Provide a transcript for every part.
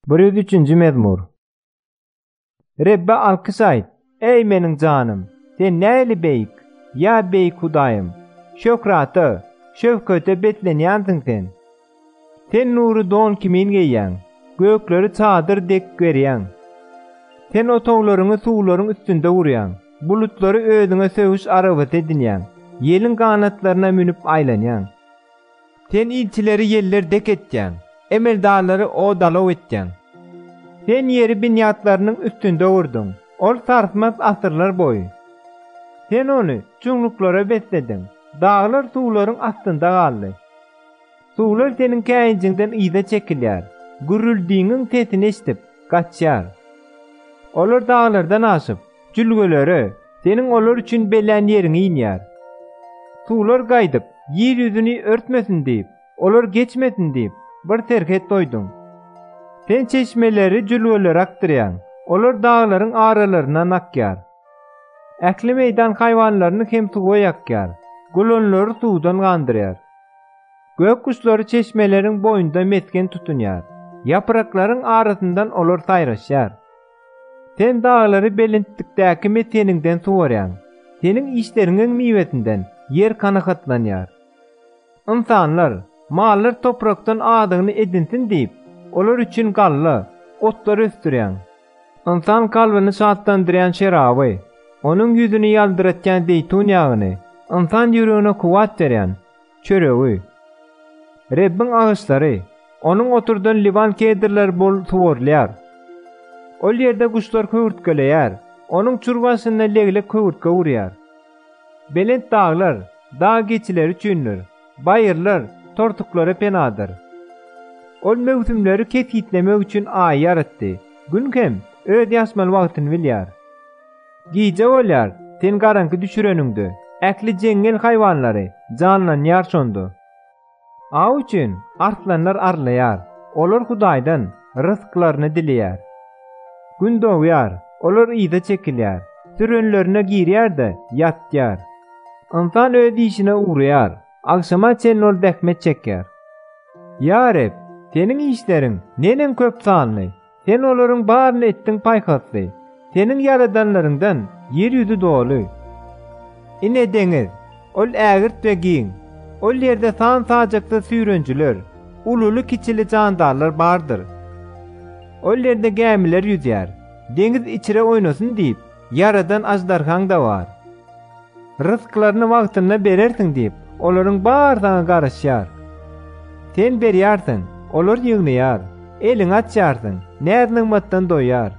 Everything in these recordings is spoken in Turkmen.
103-nji mezmur. Rebbe alkyş aýt, eý, meniň janym! Sen nähili beýik, ýa beýik Hudaýym! Şöhrata, şöwkete beslenýänsiň sen. Sen nury don kimin geýýäň, gökleri çadyr dek gerýäň. Sen otaglaryňy suwlaryň üstünde gurýaň, bulutlary özüňe söweş arabasy edinýäň, ýeliň ganatlaryna münüp aýlanýaň. Sen ilçileri ýeller dek etýäň, emeldarlary o-dalaw etýäň. Sen ýeri binýatlarynyň üstünde gurduň, ol sarsmaz asyrlar boýy. Sen ony çuňluklara beslediň, daglar suwlaryň astynda galdy. Suwlar seniň käýinjiňden yza çekilýär, gürrüldiňiň sesini eşidip, gaçýar. Olar daglardan aşyp, Jülgelere, seniň olar üçin bellän ýeriň inýär. Suwlar gaýdyp, ýer ýüzüni örtmesin diýip, olar geçmesin diýip, bir serhet goýduň. Sen çeşmeleri jülgelere akdyrýaň, olar daglaryň aralaryndan akýar. Ähli meýdan haýwanlaryny hem suwa ýakýar, gulanlary suwdan gandyrýar. Gök guşlary çeşmeleriň boýunda mesgen tutunýar, ýapraklaryň arasyndan olar saýraşýar. Sen daglary belentlikdäki mesgeniňden suwarýaň, seniň işleriňiň miwesinden ýer kanagatlanýar. Ynsanlar, mallar toprakdan adygyny edinsin diýip, olar üçin galla, otlar ösdürýäň. Ynsan kalbyny şatlandyrýan şeraby, onuň ýüzüni ýaldyratýan zeýtun ýagyny, ynsan ýüregine kuwwat berýän, çöregi. Rebbiň agaçlary, Onuň oturdan Liban kedrleri bol suwarylýar. Ol ýerde guşlar höwürtgeleýär, Onuň çür başynda leglek höwürtge urýar. Belent daglar, dag geçileri üçindir, baýyrlar, tortuklara penadyr. Ol möwsümleri kesgitlemek üçin Aýy ýaratdy, Gün hem öz ýaşmaly wagtyny bilýär. Gije bolýar, sen garaňky düşüreniňde, ähli jeňňel haýwanlary janlanýar şonda. Aw üçin arslanlar arlaýar, olar Hudaýdan rysklaryny dileýär. Gün dogýar, olar yza çekilýär, sürenlerine girýär-de ýatýar. Ynsan öz işine ugraýar, agşama çenli ol zähmet çekýär. Ýa Reb, Seniň işleriň neneň köp sanly! Sen olaryň baryny etdiň paýhasly, seniň ýaradanlaryňdan ýer ýüzi doly. Ine deňiz, ol ägirt we giň, ol ýerde san-sajaksyz süýrenjiler, ululy-kiçili jandarlar bardyr. Ol ýerde gämiler ýüzýär, deňiz içre oýnasyn diýip ýaradan aždarhaň-da bar. Ryzklaryny wagtynda berersiň diýip, olaryň bar zaňy garaşýar. Sen berýärsiň, olar ýygnaýar, eliňi açýarsyň, näz-nygmatdan doýýar.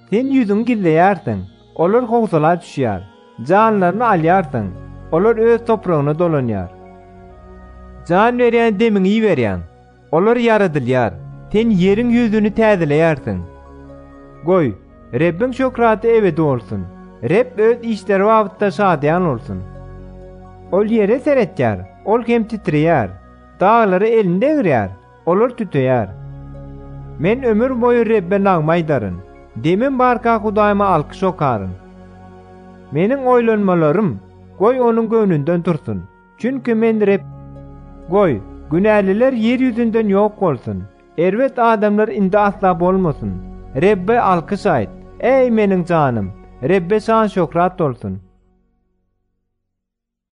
Sen ýüzüňi gizleýärsiň, olar howsala düşýär, janlaryny alýarsyň, olar öz topragyna dolanýar. Jan berýän demiňi iberýäň. Olar ýaradylýar, sen ýeriň ýüzüni täzeleýärsiň. Goý, Rebbiň şöhraty ebedi bolsun, Reb Öz işleri babatda şadyýan bolsun. Ol ýere seretýär, ol hem titreýär, daglara elini degirýär, olar tüteýär. Men ömür boýy Rebbe nagma aýdaryn, demim barka Hudaýyma alkyş okaryn. Meniň oýlanmalarym, goý, Onuň göwnünden tursun. Çünki Men Reb. Goý, günäliler ýer ýüzünden ýok bolsun, erbet adamlar indi asla bolmasyn. Rebbe alkyş aýt, eý, meniň janym, Rebbe şan-şöhrat bolsun!